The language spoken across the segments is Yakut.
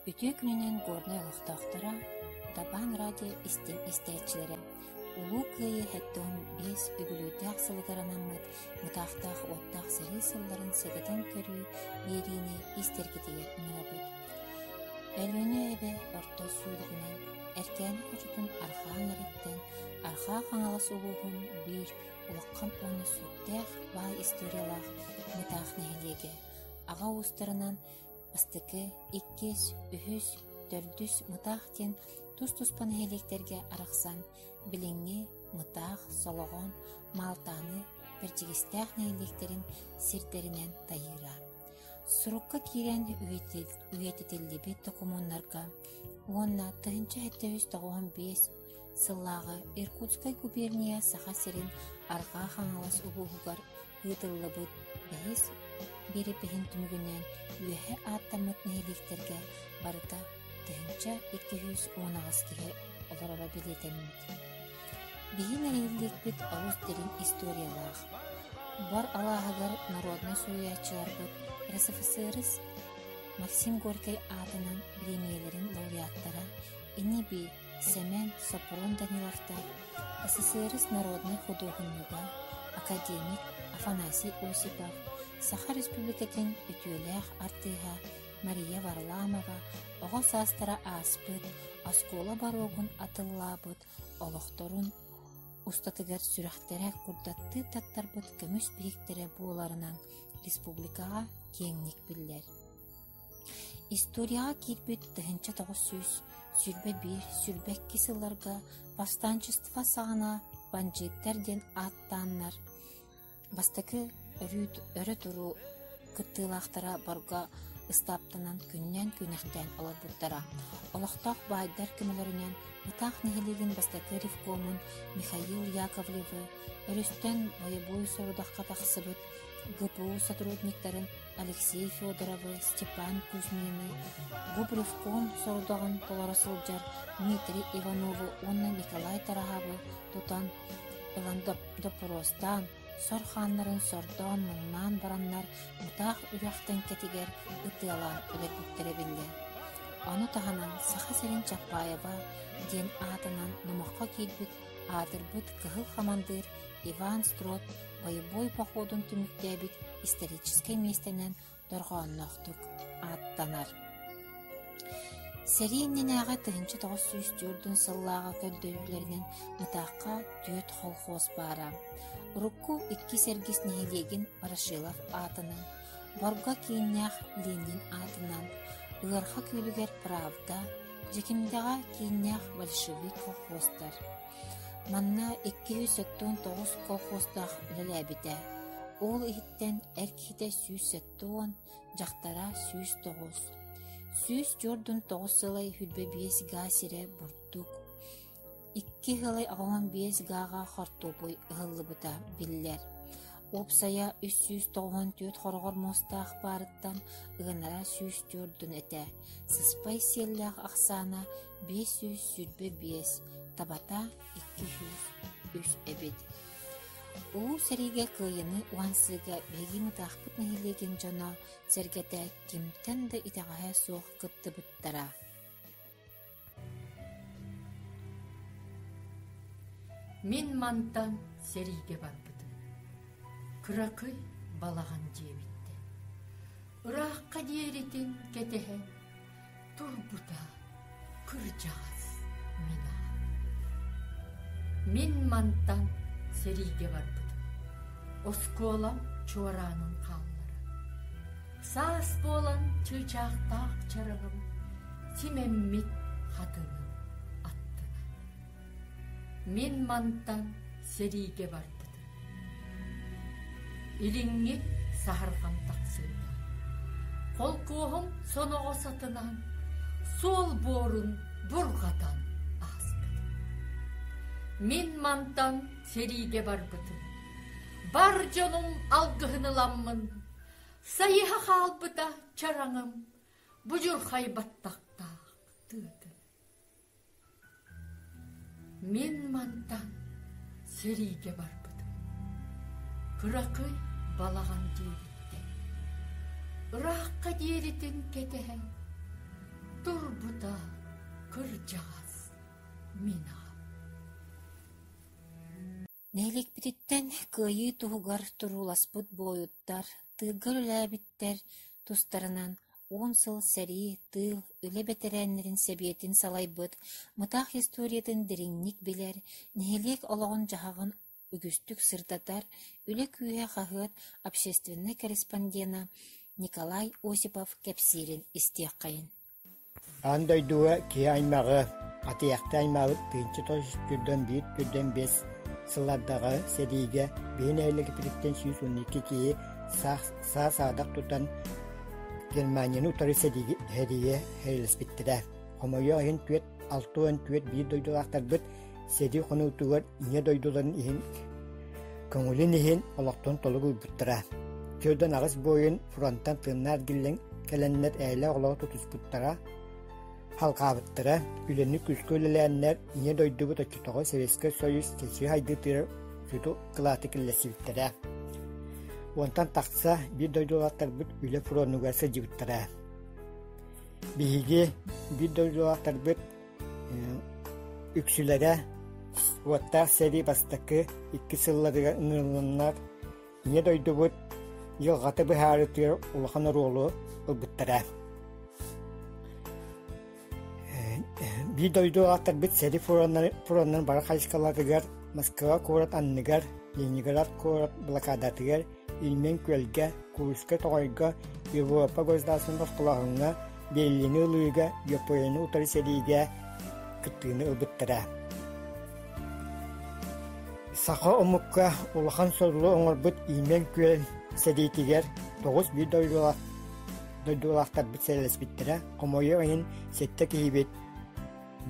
Үтүө күнүнэн Горнай олохтоохторо, Табаан радио истиҥ истээччилэрэ, Улуу Кыайыы сэттион биэс үбүлүөйдээх сылыгар анаммыт Мытаахтаах уоттаах сэрии сылларын сэгэтэн көрүү биэриини истэргитигэр ыҥырабыт. Өлүөнэ эбэ орто сүүрүгүнэн Эркээни хочотун Архаан Нариттэн Архаа Хаҥалас улууһун биир улахан уонна сүрдээх баай историялаах Мытаах нэһилиэгэ аҕа уустарынан бастакы, иккис, үһүс, төрдүс Мытаах диэн тус-туспа нэһилиэктэргэ арахсан, билиҥҥи Мытаах, Солоҕон, Маалтааны Бэрдьигэстээх нэһилиэктэрин сирдэринэн тайыыра. Сурукка киирэн үйэтитиллибит докумуоннарга уонна тыһыынча сэттис тоҕуһун биэс сыллааҕы Иркутскай губерния Саха сирин Арҕаа Хаҥалас улууһугар ыытыллыбыт бэһис биэрэпиһин түмүгүнэн үөһэ ааттаммыт нэһилиэктэргэ барыта тыһыынча икки сүүс уон аҕыс киһи олороро бэлиэтэммит. Биһиги нэһилиэкпит олус дириҥ историялаах. Бар алааһыгар народнай суруйааччыларбыт РСФСРС Максим Горькай аатынан бириэмийэлэрин лауреаттара Ини-бии Сэмэн Сопрун Даниловтаах СССР народнай худуоһунньуга академик Афанасий Осипов, Саха Республикатын үтүөлээх артыыһа Мария Варламова оҕо саастара ааспыт, оскуола боруогун атыллаабыт олохторун устатыгар сүрэхтэрэ курдаттыы таттарбыт көмүс биһиктэрэ буоларынан республикаҕа киэҥник биллэр. Историяҕа киирбит тыһыынча тоҕус сүүс сүүрбэ биир сүүрбэ икки сылларга восстанчество саҕана бандьыыттар диэн ааттааннар, бастакы өрүү өрө туруу кыттыылаахтара борго ыстааптанан күннээн күнэхтээн олорбуттара. Олохтоох баайдар көмөлөрүнэн Ытаах нэһилиэгин бастакы ревкомун Михаил Яковлевы, өрүстэн бойобуой сорудахха тахсыбыт ГПУ сотрудниктарын Алексей Федоровы, Степан Кузьмины, Губревкон сорудаҕын толоро сылдьар Дмитрий Иванову уонна Николай Тараһабы тутан, доппуруостаан, сор хааннарын сордоон муҥнаан бараннар мутаах үрэх тэҥкэтигэр ытыалаан өлөрбүттэрэ биллэр. Ону таһынан Саха сирин Чапаева диэн аатынан номоххо киирбит аатырбыт кыһыл хамандыыр Иван Строд бойобуой походун түмүктээбит историческай миэстэнэн дорҕоонноохтук ааттанар. Сэрии иннинээҕи тыһыынча тоҕус сүүс түөртүн сыллааҕы көрдөрүүлэринэн Ытаахха түөрт холхуос баара. Урукку иккис эргис нэһилиэгин Ворошилов аатынан, Борго кииннээх Ленин аатынан, Ыарха күөлүгэр Правда, Дьэкимдэҕэ кииннээх Большевик колхозтар, Манна икки сүүс сэттэ уон тоҕус колхоздаах үлэлээбитэ, уол иһиттэн эр киһитэ сүүс сэттэ уон, дьахтара сүүс тоҕус. Сүүс дьуордун тоҕус сылай сүүрбэ биэс гаа сирэ бурдук, икки сылай аҕа уон биэс гааҕа хортуопуй ыһыллыбыта биллэр. Уопсайа үс сүүс тоҕуон түөрт хороҕор муостаах баарыттан ыанара сүүс дьуордун этэ. Сыспай сиэллээх ахсаана биэс сүүс сүүрбэ биэс, табата икки сүүс үс эбит. Улуу сэриигэ кыайыыны уһансыыга биһиги Мытаахпыт нэһилиэгин дьоно, сэргэтэ кимтэн да итэҕэһэ суох кыттыбыттара. Мин мантан сэриигэ барбытым. Кыракый балаҕан дьиэбиттэн. Ыраахха диэритин кэтэһэн, турбута кырдьаҕас мина мин мантан сэриигэ барбытым оскуолам чуораанын хааллара саас буолан чыычаахтаах чараҕым симэммит хатыным аттына Мин манта сэриигэ барбытым. Илиҥҥи саһарҕам тахсыыта. Холкуоһум соноҕо сатынан, суол буорун бурҕатан ааспытым. Мин мантан сэриигэ барбытым. Бар дьонум алгыһын ыламмын, сайыһа хаалбыта чараҥым, будьурхай баттахтаах тыатын. Мин мантан сэриигэ барбытым. Кыракый балаҕан диэбиттэр. Ыраахха диэритин кэтэһэн турбута кырдьаҕас мин аҕам. Нэһилиэкпититтэн кыайыы туһугар турууласпыт буойуттар, тыылга үлэлээбиттэр тустарынан уон сыл сэрии, тыыл, үлэ бэтэрээннэрин сэбиэтин салайбыт, мытаах историятын дириҥник билэр, нэһилиэк олоҕун-дьаһаҕын үгүстүк сырдатар үлэ күүһэ хаһыат общественнай корреспондена Николай Осипов кэпсиирин истиэххэйин Аан дойдуга киһи аймаҕы, атыйахта аймаабыт тыынча тос иккирдэн биир үрдэн биэс сыл ардаҕа сэриигэ биһи нэһилиэкпититтэн сүүс уон икки киһи саа-саадах тутан Германияны утары сэрийэ эһилэспиттэрэ. Хомойуох иһин, түөрт, алта уон түөрт биир дойдулаахтарбыт сэрии хонуутугар ийэ дойдуларын иһин көҥүлүн иһин олохтон толук уйбуттара. Түөрдэн аҕыс буойун фронтан тыыннаар гиллэн кэлэннэр ээлэ олоҕу тутуспуттара, халҕаабыттара, үлэни күүскэ үлэлээннэр ийэ дойдубут оччотоҕу Советскай Союз чэчии хайдытыыр сүту кылааты киллэрсибиттэрэ. Уонтан тахса биир дойдулаахтарбыт үлэ фронугар сылдьыбыттара. Биһиги биир дойдулаахтарбыт Үксүлэрэ уоттаах сэрии бастакы иккис сылларыгар ыҥырылланнар Ийэ дойдубут дьылҕата быһаарытыыр улахан оруолу ылбыттара. Биир дойду аатырбыт сэрии фроннарын бары хайысхаларыгар Москва куорат анныгар, Ленинград куорат блокадатыгар Иннин күөлгэ, Курска тоҕойго, Европа государственнай босхолооһуҥҥа, Берлини ылыыга, Японияны утары сэриигэ кыттыыны ылбыттара. Саха омукка улахан сорулу оҥорбут Имен күөл сэриитигэр тоҕус биир дойдулаах дойдулаахтарбыт сэлэспиттэрэ, хомойуох иһин, сэттэ киһибит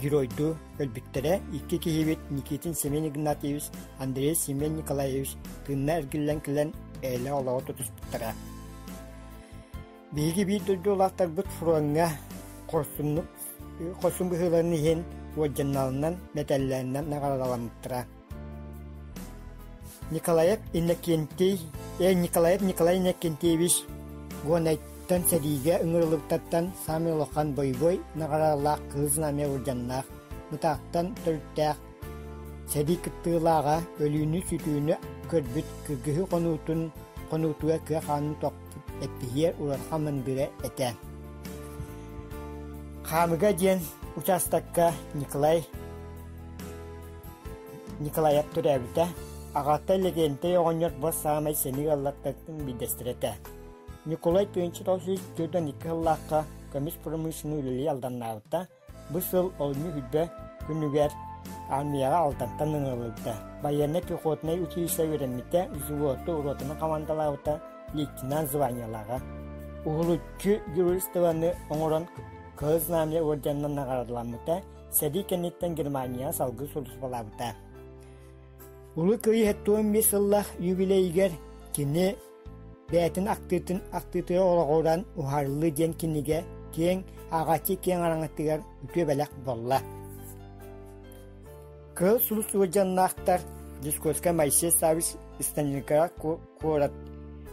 Геройдуу өлбүттэрэ икки киһибит Никитин Семен Игнатьевич, Андрей Семен Николаевич тыынна эргиллэн кэлэн бэйэлэрэ олоҕо тутуспуттара. Биһиги биир дойду улаахтарбыт фроҥҥа хорсуннук хорсун быһыыларын иһин уодьанналарынан, мэтэллэринэн наҕарадаламмыттара. Николаев Иннокентий, эн Николаев Николай Иннокентьевич Гонайтан сэриигэ ыҥырыллыбыттартан самый улахан бойобуой наҕараалаах кыһыл знамя улдьаннаах, бытааттан төрүттээх, сэрии кыттыылааҕа, өлүүнү-сүтүүнү көрбүт кыргыһыы хонуутун хонуутугар кыа хаанын тохпут эппиһиэр улахан мындыра этэ. Хаамыга диэн учаастакка Николай Николаев төрөөбүтэ, аҕата Лэгиэнтэй оҕонньор бу саамай сэниэ ыаллартан биирдэстэрэ этэ. Ньукулай тыһыынча тоҕус сүүс сүүрдэн икки сыллаахха көмүс промышленнай үлэлии алданнаабыта. Бу сыл олунньу күрбэ күнүгэр армияҕа Алтантан ыҥырыллыбыта. Байыаннай пехотнай училище үөрэммитэ, взводту ротаны командалаабыта, лейтенант званиелааҕа. Уһулуччу геройствоны оҥорон Кыһыл Знамя орденынан наҕараадаламмыта, Сэрии кэнниттэн Германияҕа салгыы судурсулаабыта. Улуу Кыайыы тоҕус биэс сыллах юбилейигэр кини бээтин актыытын актыытыгар олоҕуран уһарыллыы диэн кинигэ киэҥ аҕаччы киэҥ араҥатыгар үтүө бэлэх болла. Кыыл сулус сылдьаннаахтар Дискорская Моисей Савич Станникаҕа куорат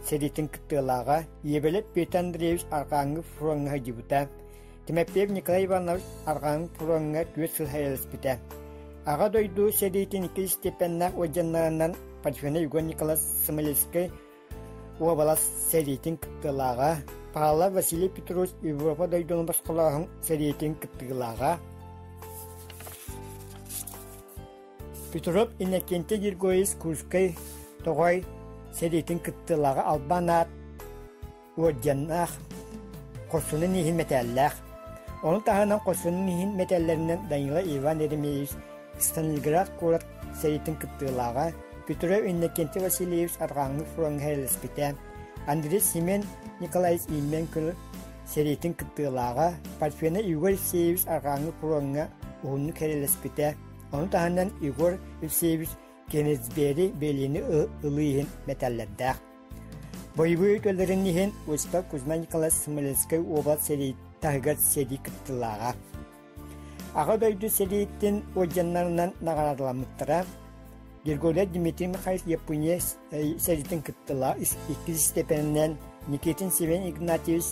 сэриитин кыттыылааҕа Ебелев Петр Андреевич Архангов фроҥҥа сылдьыбыта. Тимофеев Николай Иванович арҕаҕын фроҥҥа күөс сыл сайыласпыта. Аҕа дойду сэриитин икки степеннээх уодьаннарынан Пачхина Егор Николас Сомалийскай уобалас сэриитин кыттыылааҕа, Павла Василий Петрович Европа дойдуну босхолооһун сэриитин кыттыылааҕа, Петров Иннокентий Григорьевич Курскай тоҕой сэриитин кыттыылааҕа албан аат уодьаннаах, хорсунун иһин мэтээллээх. Ону таһынан хорсунун иһин мэтээллэринэн Данила Иван Еремеевич Сталинград куорат сэриитин кыттыылааҕа, Петров Иннокентий Васильевич арҕааҥҥы фроҥҥа һэрлэспитэ, Андрей Семен Николаевич Иммен күн сэриитин кыттыылааҕа, Парфена Егор Евсеевич арҕааҥҥы фроҥҥа уһуннук һэрлэспитэ, ону таһынан Егор Евсеевич Кеннесбери Белини ылыы иһин мэтээллэрдээх. Боевые көллөрүн иһин Восток, Кузьма Николаевич Смоленскай уобалас сэрии таһыгар сэрии кыттылааҕа. Аҕа дойду сэрииттин уодьаннарынан наҕараадаламмыттара. Григорий Дмитрий Михайлович Япония сэриитин кыттылаа иккис степенинэн Никитин Севен Игнатьевич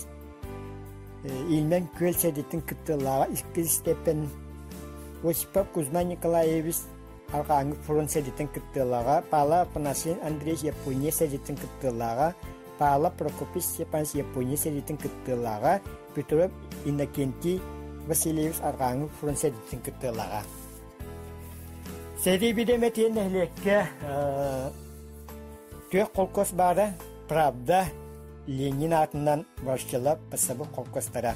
Ильмен Күөл сэриитин кыттылааҕа иккис степен Осипов Кузьма Николаевич Арҕааҥҥы фронт сэдиттэн кыттыылааҕа Паала Апанасьевич Андреевич Япония сэдиттэн кыттыылааҕа Паала Прокопьевич Степанович Япония сэдиттэн кыттыылааҕа Петров Иннокентий Васильевич Арҕааҥҥы фронт сэдиттэн кыттыылааҕа Сэрии бидэмэ тиэн нэһилиэккэ түөх холкуос баара Правда Ленин аатынан Варшела Пасабы холкуостара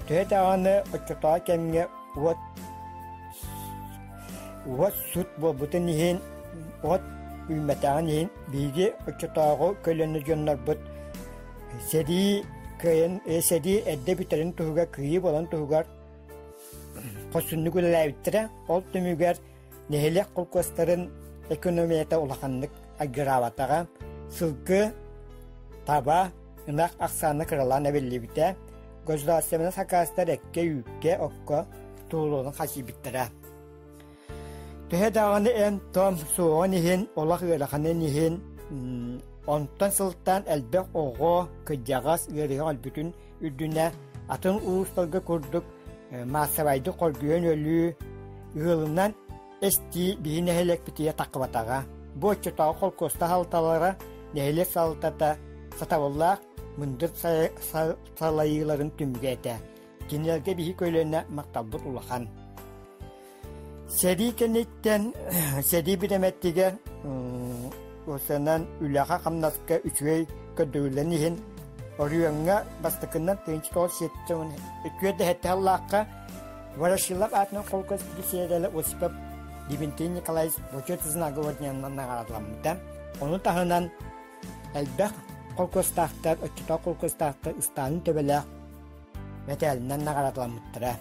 Төһө даҕаны оччотооҕу кэмҥэ уот уот сут буолбутун иһин, уот үүммэтэҕин иһин биһиги оччотооҕу көлүөнэ дьоннорбут сэрии кыайан э, сэрии эрдэ бүтэрин туһугар кыайыы буолан туһугар хосуннук үлэлээбиттэрэ. Ол түмүгэр нэһилиэк холкуостарын экономията улаханнык агыраабатаҕа, сылгы, таба, ынах ахсаана кыралаан эбиллибитэ, государственнай сакаастар эккэ-үүккэ, окко туолуон хасыйбыттара. Төһө даҕаны эн-том суоҕун иһин, олох ыараханын иһин, онтон сылтаан элбэх оҕо, кырдьаҕас ыарыһах өлбүтүн үрдүнэ атын уустарга курдук маассабайдык хоргуйан өлүү, ыалынан эстии биһи нэһилиэкпитигэр таххыбатаҕа. Бу оччотооҕу холкуоста халталара нэһилиэк салалтата сатабыллаах мындыр салайыыларын түмүгэ этэ. Кинилэргэ биһи көлүөнэ махталбыт улахан. Сэрии кэнниттэн сэрии бириэмэтигэр уонна үлэҕэ-хамнаска үчүгэй көрдөрүллэн иһин Орүөҥҥэ бастакыннан тыһыынча тоҕус үтүө дэһэтэ аллаахха Ворошилов аатынан холкуос бисиэдэлэ Осипов Дебентин Николаевич бочет знаговоднyanынан наҕаараламмыта. Ону таһынан элбэх холкуостаахтар, оччотоох холкуостаахтар ыстаанын төбөлөөх мэтээлинэн наҕаараламмыттара.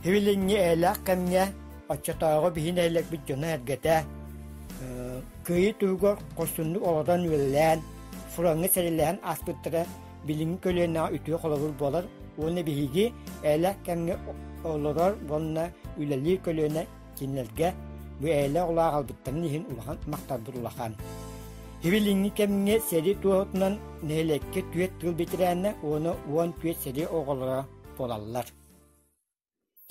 Һивилиҥҥи эйэлээх кэмҥэ оччотооҕу биһи нэһилиэкпит дьоно-эргэтэ кыайыы туһугар хорсуннук олорон үлэлээн, фроҥҥа сэрэлэһэн ааспыттара билиҥҥи көлүөнэҕэ үтүө холобур буолар уонна биһиги эйэлээх кэмҥэ олорор уонна үлэлиир көлүөнэ кинилэргэ бу эйэлээх улаах албыттарын иһин улахан махталбыт улахан. Һивилиҥҥи кэмҥэ сэрии туоһутунан нэһилиэккэ түөрт тыыл бэтэрээнэ уона уон түөрт сэрии оҕолоро буолаллар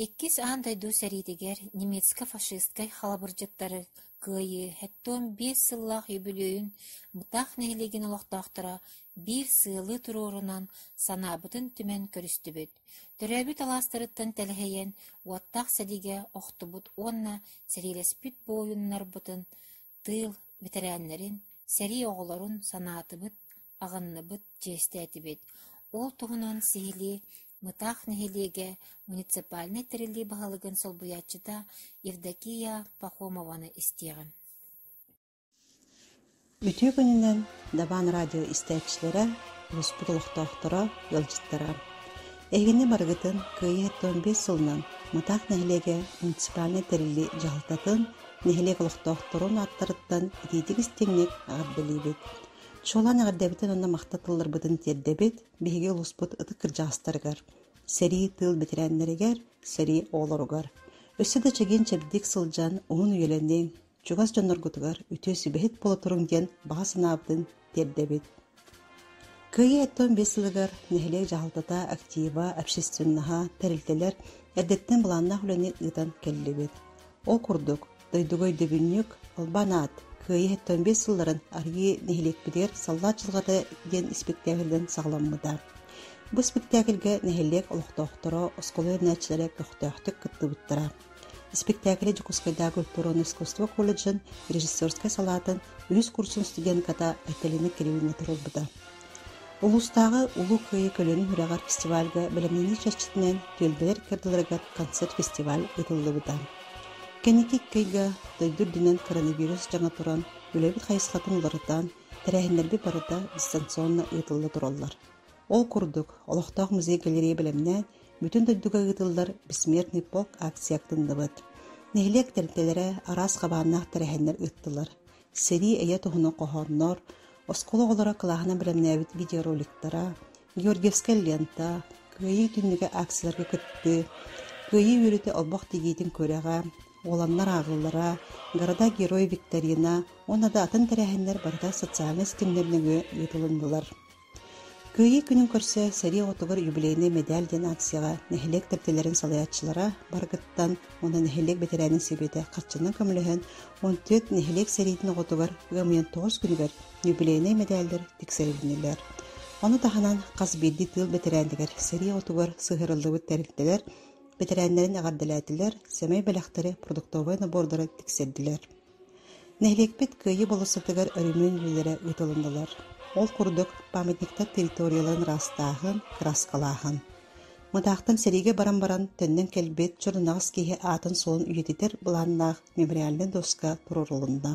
иккис аан дойду сэриитигэр немецко-фашистскай халабырдьыттары кыайыы хэттон биэс сыллаах үбүлүөйүн бытаах нэһилиэгин олохтоохторо биир сыалыы туруорунан санаабытын түмэн көрүстүбүт төрөөбүт алаастарыттан тэлэһийэн уоттаах сэриигэ охтубут уонна сэриилэспит буойуннарбытын тыыл бэтэрээннэрин, сэрии оҕолорун санаатыбыт, аҕынныбыт, чиэстээтибит. Ол туһунан сиһилии Мытаах нэһилиэгэ муниципальнай тэриллии баһылыгын солбуйааччыта Евдокия Пахомованы истиэҕим Үтүө күнүнэн Дабаан радио истээччилэрэ, успут олохтоохторо, ыалдьыттара! Эһигини барыгытын кыайыыттан биэс сылынан Мытаах нэһилиэгэ муниципальнай тэрили дьаһалтатын нэһилиэк олохтоохторун ааттарыттан итиитик истиҥник эҕэрдэлиибит. Чуолаан эҕэрдэбитин уонна махта тылларбытын тиэрдэбит биһиги улууспут ытык кырдьаҕастарыгар, сэрии тыыл бэтэрээннэригэр, сэрии оҕолоругар. Өссө да чэгиэн чэбдик сылдьан уһун үйэлэниҥ, чугас дьонноргутугар үтүө сүбэһит буолутуруҥ диэн баҕа санаабытын тиэрдэбит. Кыайыы оттон биэс сылыгар нэһилиэк дьаһалтата актива, общественнаһа, тэрилтэлэр эрдэттэн былааннаах үлэни ыытан кэллибит. Ол курдук, дойдуга өйдөбүнньүк, албан аат, Кыайыы оттон биэс сылларын арыйыы нэһилиэкпитигэр Саллаат Чылгата диэн испиктээһилинэн саҕаламмыта. Бу испиктээкилгэ нэһилиэк олохтоохторо, оскуола үөрэнээччилэрэ көхтөөхтүк кыттыбыттара. испэктээкилэ Дьокуускайдааҕы культура уонна искусство колледжын режиссерскай салаатын үһүс курсун студентката Айталина Кирилловна толорбута. Улуустааҕы Улуу Кыайыы көлүөнэ үрэҕэр фестивальга бэлэмнэнии чэрчитинэн түөлбэлэр кыайдыларыгар концерт-фестиваль ыытыллыбыта. Кэнники икки ыйга дойду үрдүнэн коронавирус дьаҥа туран, үлэбит хайысхатын уларытан, тэрээһиннэрбит барыта дистанционно ыытылла тураллар. Ол курдук, олохтоох музей-галерея бэлэмнээн, Бүтүн дойдуга ыытыллар «Бессмертный полк» ааксыйа актынныбыт. Нэһилиэк тэрилтэлэрэ араас хабааннаах тэрээһиннэр ыыттылар. Сэрии эйэ туһунан хоһооннор, оскуола оҕолоро кылааһынан бэлэмнээбит видеороликтара, Георгиевская лента, Кыайыы түннүгэ ааксыйаларга кыттыы, Кыайыы үөрэтэ олбох тигиитин күрэҕэ, Уоланнар ааҕыллара, Города-герой викторина уонна да атын тэрээһиннэр барыта социальнай ситимнэр нөҥүө ыытылыннылар. Кыайыы күнүн көрсө сэрии оҕотугар юбилейнай мэдээл диэн аакцияҕа нэһилиэк тэрилтэлэрин салайааччылара барытыттан уонна нэһилиэк бэтэрээнин сэбиэтэ харчынан көмөлөһөн уон түөрт нэһилиэк сэриитин оҕотугар ыамыйан тоҕус күнүгэр юбилейнай мэдээллэр тиксэриллинэлэр. Ону таһынан хас биирдии тыыл бэтэрээнигэр сэрии оҕотугар сыһыарыллыбыт тэрилтэлэр бэтэрээннэрин эҕэрдэлээтилэр, сэмэй бэлэхтэри, продуктовай набордары тиксэрдилэр. Нэһилиэкпит Кыайыы болосотугар өрөмүөн үлэлэрэ ыытылыннылар. Ол курдук, памятниктар территорияларын ыраастааһын, кырааскалааһын. Мытаахтан сэриигэ баран баран төннөн кэлбит чорунаҕас киһи аатын-суолун үйэтитэр былааннаах мемориальнай дуоска туруорулунна.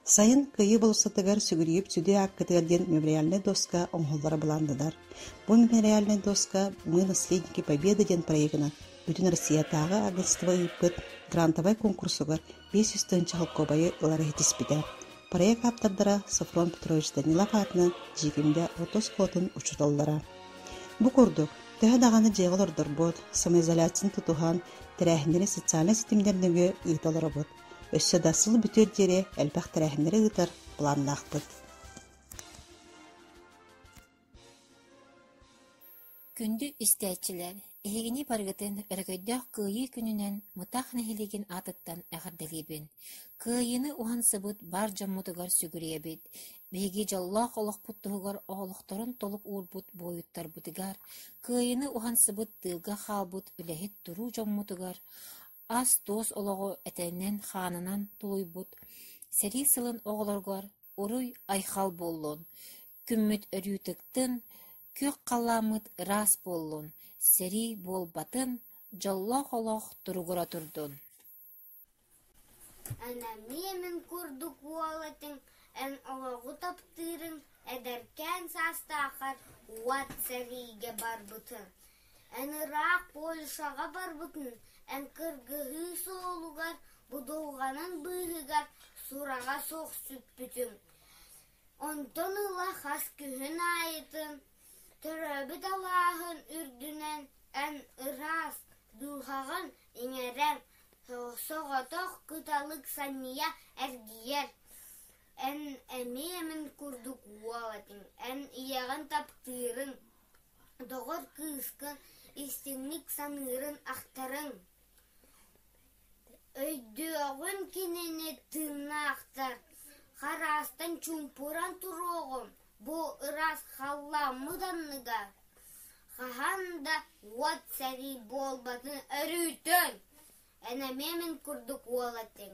Сайын кыйыы болсутугар сүгүрүйүп сүдү ааккытыгар диэн мемориальнай дуоска оҥоһуллара былааннанар. Бу мемориальнай дуоска «Мы наследники Победы» диэн проегынан бүтүн Россиятааҕы агентство ыыппыт грантовай куонкурсугар биэс сүүс тыһыынча холкуобайы ылары иһитиспитэ. Проект ааптардара Софрон Петрович Данилов аатынан Дьиикимдэ орто оскуолатын учууталлара. Бу курдук, төһө даҕаны дьиэҕэ олордорбут, самоизоляцияны тутуһан, тэрээһиннэри социальнай ситимнэр нөҥүө ыыта олоробут. Өссө да сыл бүтүөр диэри элбэх тэрээһиннэри ыытар планнаахпыт Күндү истээччилэр, эһигини барыгытын өрөгөйдөөх Кыайыы күнүнэн Мытах нэһилиэгин аатыттан эҕэрдэлиибин. Кыайыыны уһансыбыт бар дьоммутугар сүгүрүйэбит. Биһиги дьоллоох олохпут туһугар оҕолохторун толук уурбут буойуттарбытыгар, кыайыыны уһансыбыт тыылга хаалбыт үлэһит туруу дьоммутугар, ас-туос олоҕу этэнэн, хаанынан тулуйбут, сэрии сылын оҕолоргор уруй-айхал буоллун, күммүт өрүүтүктүн, күөх халлааммыт ыраас буоллун, сэрии буолбатын, дьоллоох олох туругура турдун! Ана миэмин курдук уол этиҥ эн олоҕу таптыырын эдэркээн саастааххар уот сэриигэ барбытын Эн ыраах Польшаҕа барбытыҥ эн кыргыһыы суолугар будулҕанын быыһыгар сураҕа суох сүппүтүм, онтон ыла хас күһүн аайытын төрөөбүт алааһын үрдүнэн эн ыраас дууһаҕын иҥэрэр, соҕотох кыталык санньыйа эргийэр, эн эмиэ эмин курдук уол этиҥ, эн ийэҕин таптыырыҥ Доҕор кыыска истиҥник саныырын ахтарыҥ, өйдөөҕүн кинини тыыннаахтар, хараастан чуумпуран туруоҕун бу ыраас халлааммыт анныгар, хаһан да уот сэрии буолбатын өрүүтүн, эн эмиэ мин курдук уол этиҥ